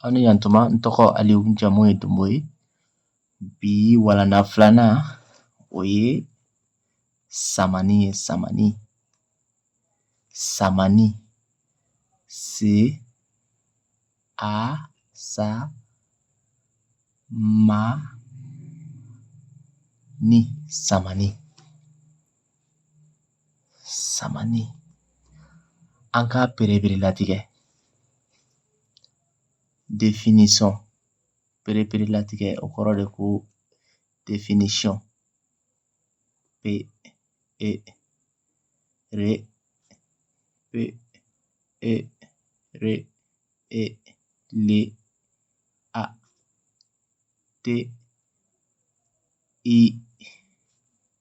aw ni yantuma n tɔgɔ aliyu n jamu ye donbo ye bi walanda filanan o ye samani ye samani samani se a sa ma ni samani sama ni an k'a pereperelatigɛ latigɛ definisɔn pereperelatigɛ latigɛ o kɔrɔ de ko definisɔn pe e re pe e re e le a te i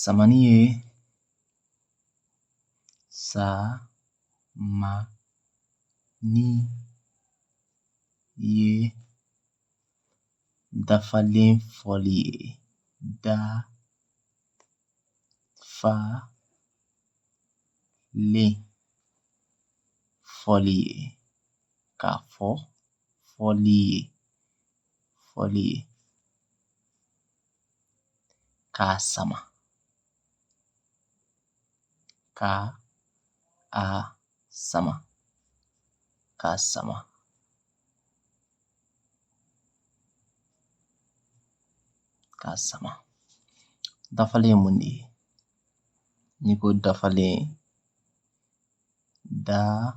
Samani ye sa ma ni ye dafalen fɔli ye dafalen fɔli ye k'a fɔ fɔli ye fɔli ye k'a sama ka a sama k'a sama k'a sama dafalen ye mun de ye n'i ko dafalen dafalen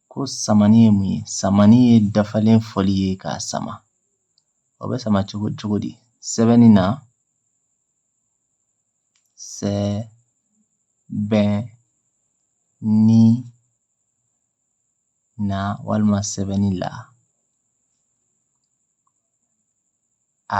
Ko samani ye mun ye samani ye dafalen fɔli ye k'a sama o bɛ sama cogo cogo di sɛbɛnni na sɛ bɛn ni na walima sɛbɛnni la a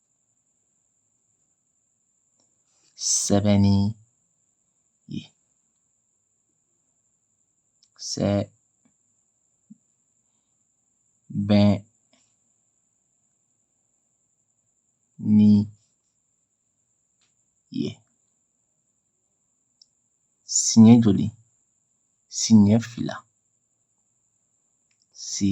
sɛbɛnni ye sɛ bɛn ni ye siɲɛ joli siɲɛ fila si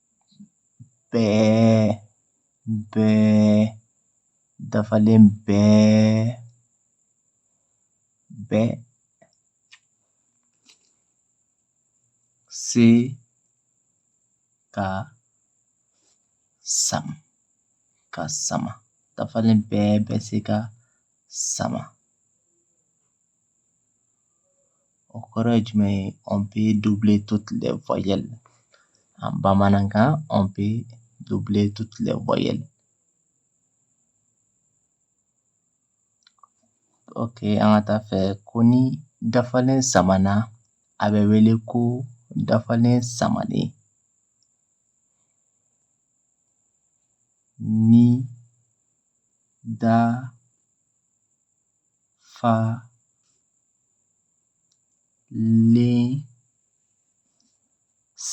bɛɛ bɛɛ dafalen bɛɛ bɛ se ka sama ka sama dafalen bɛɛ bɛ se ka sama o kɔrɔ ye jumɛn ye on peut doubler toutes les voyelles en bamanankan on peut doubler toutes les voyelles ok an ka taa a fɛ ko ni dafalen samana a bɛ wele ko dafalen samanen ni da falen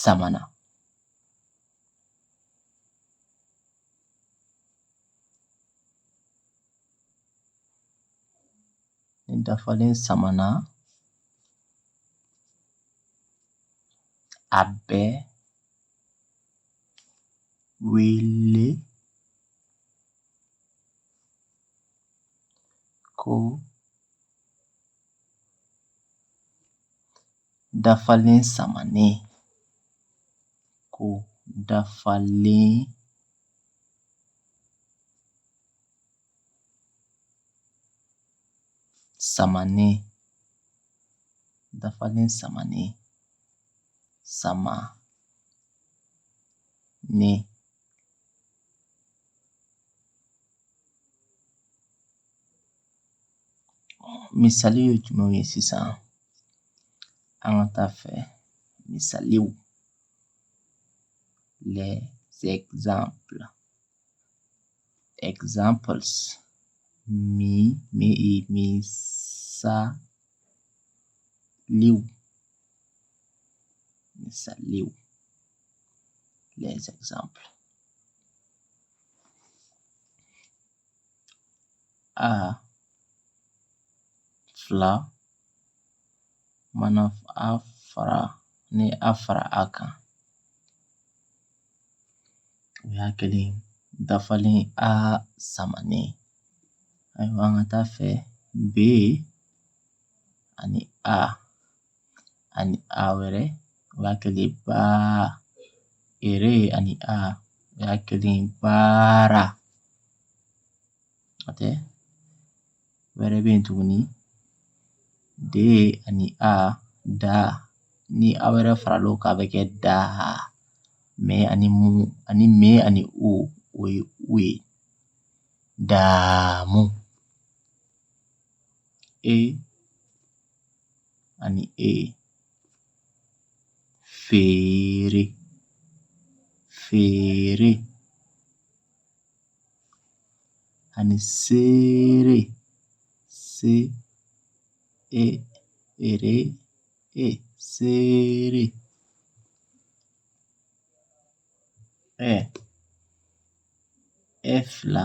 samana. Ni dafalen samana a bɛ wele Ko dafalen samanen ko dafalen samanen dafalen samanen samanen Misaliw ye jumɛn ye sisan an ka taa fɛ misaliw les exemples exemples mi misaliw misaliw les exemples. A fila mana a fara ni a fara a kan o y'a kɛlen dafalen a samanen ayiwa an ka taa fɛ B ani A. ani a wɛrɛ o y'a kɛlen baa ere ani a o y'a kɛlen baara dɔ wɛrɛ bɛ yen tuguni de ani a da ni a wɛrɛ faral'o kan a bɛ kɛ daa mɛ ani mu ani mɛ ani u o ye o ye daamu e ani A. Feere, feere, ani seere, se, e, ere, e, seere, ɛ, efla.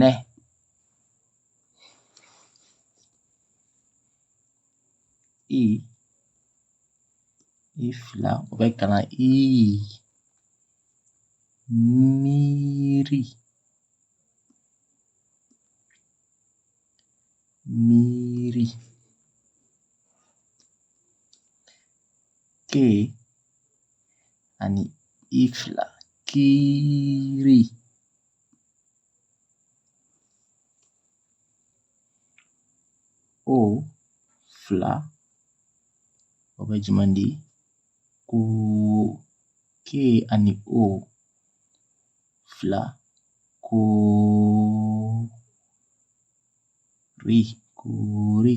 Nɛ. I. I fila o bɛ kana i. Miiri. Miiri. Ke. ani i fila kiiri. O fila o bɛ jumɛn di ko ke ani o fila koo ri koori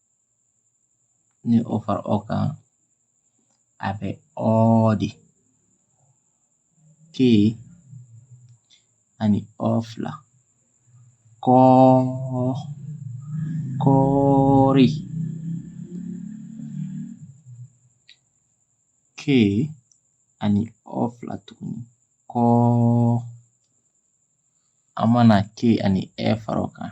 ni o fara o kan a bɛ ɔɔ di ke ani ɔ fila kɔɔ kɔɔri ke ani ɔ fila tuguni kɔɔ an mana ke ani ɛ fara o kan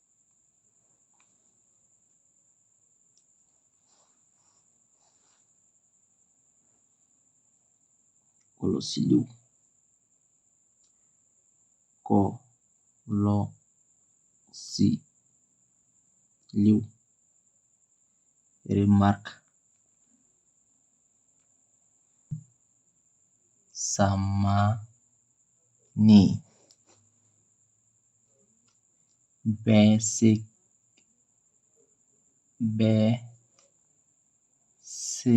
kɔlɔsiliw kɔ lɔ si liw remarque samani bɛ se ka bɛ se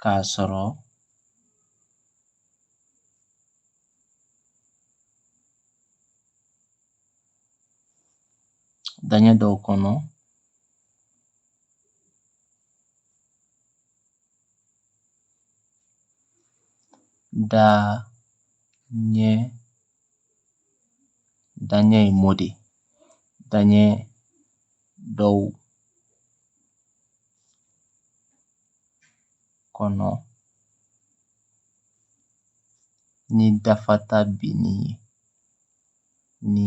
ka sɔrɔ daɲɛ dɔw kɔnɔ da nye da nye modi da nye dɔw kɔnɔ ni dafata binni ye ni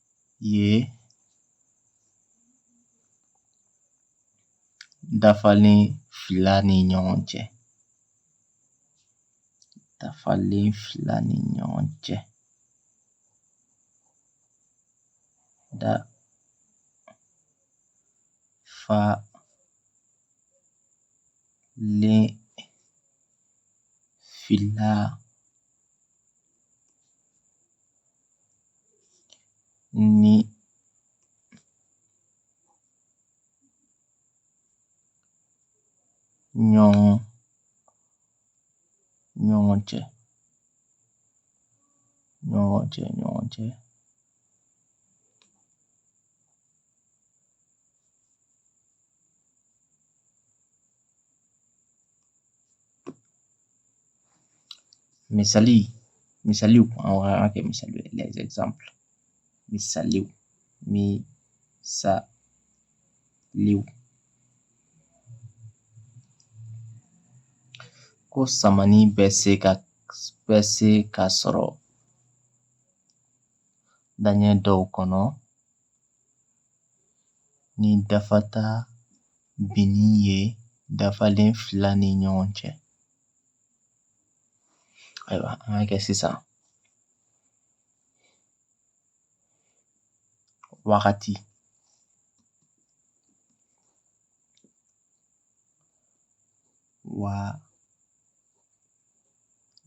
ye dafalen fila ni ɲɔgɔn cɛ dafalen fila ni ɲɔgɔn cɛ da fa len fila ni ɲɔgɔn ɲɔgɔn cɛ ɲɔgɔn cɛ ɲɔgɔn cɛ Misaliw misaliw an k'a kɛ misali exemple misaliw misaliw ko samani bɛ se ka bɛ se ka sɔrɔ daɲɛ dɔw kɔnɔ ni dafata binni ye dafalen fila ni ɲɔgɔn cɛ ayiwa an ka kɛ sisan wagati wa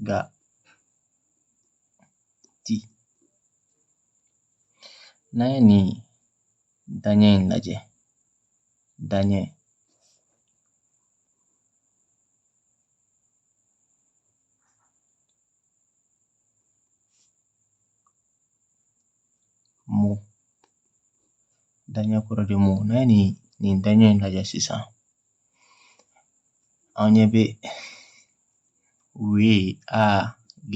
ga ti N'an ye nin daɲɛ in lajɛ daɲɛ mot daɲɛ kɔrɔ de mot n'an ye nin nin daɲɛ in lajɛ sisan O ye W A G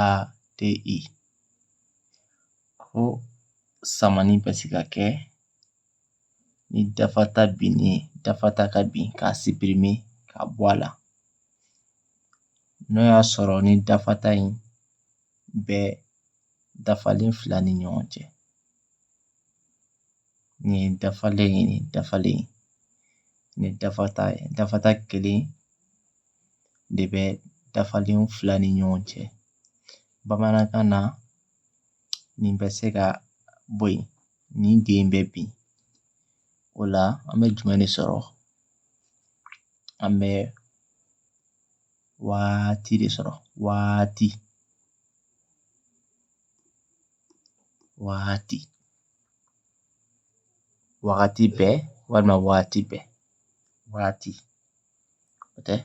A T I. Ko samani bɛ se ka kɛ ni dafata binni dafata ka bin k'a supprimer k'a bɔ a la n'o y'a sɔrɔ nin dafata in bɛ dafalen fila ni ɲɔgɔn cɛ Nin ye dafalen ye nin dafalen nin dafata ye dafata kelen de bɛ dafalen fila ni ɲɔgɔn cɛ bamanankan na nin bɛ se ka bɔ yen nin de bɛ bin o la an bɛ jumɛn de sɔrɔ an bɛ waati de sɔrɔ waati waati wagati bɛɛ walima waati bɛɛ waati o tɛ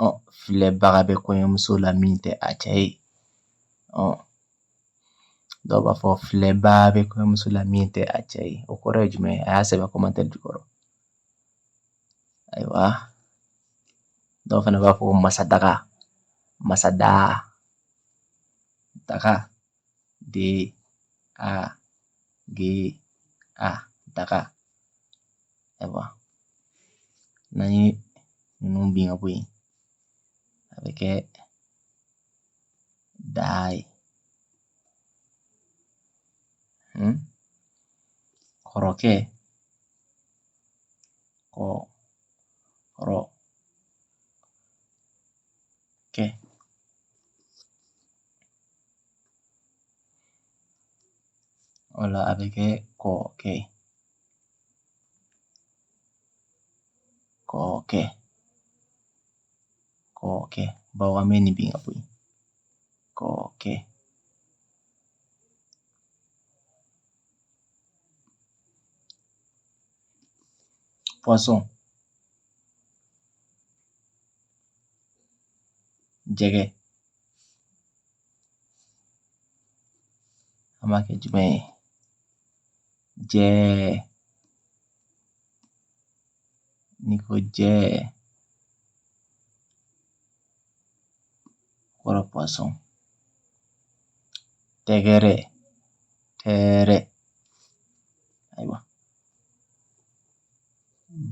ɔ filɛbaga bɛ kɔɲɔmuso la min tɛ a cɛ ye ɔ dɔw b'a fɔ filɛbaa bɛ kɔɲɔmuso la min tɛ a cɛ ye o kɔrɔ ye jumɛn ye a y'a sɛbɛn commentaire jukɔrɔ ayiwa dɔw fana b'a fɔ masadaga masadaa daga D A G A daga ayiwa n'an ye ninnu bin ka bɔ yen a bɛ kɛ daa ye hmm? kɔrɔkɛ kɔ kɔrɔ kɛ o la a bɛ kɛ kɔɔkɛ kɔɔkɛ kɔɔkɛ bawo an bɛ nin bin ka bɔ yen kɔɔkɛ poisson jɛgɛ an b'a kɛ jumɛn ye jɛɛ n'i ko jɛɛ kɔrɔ poisson tɛgɛrɛ tɛɛrɛ ayiwa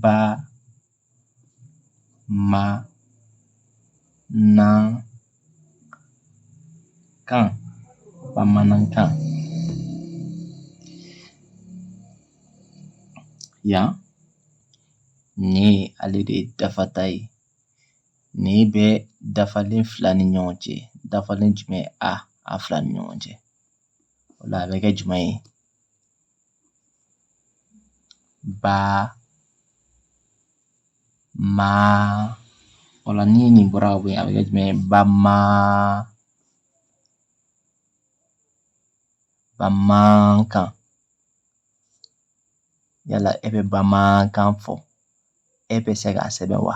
ba ma nan kan bamanankan yan ni ye ale de ye dafata ye ni bɛ dafalen fila ni ɲɔgɔn cɛ dafalen jumɛn a a fila ni ɲɔgɔn cɛ o la a bɛ kɛ jumɛn ye Ba maa o la ni nin bɔra ka bɔ yen a bɛ kɛ jumɛn ye ba ma bamaankan yala e bɛ bamaankan fɔ e bɛ se k'a sɛbɛn wa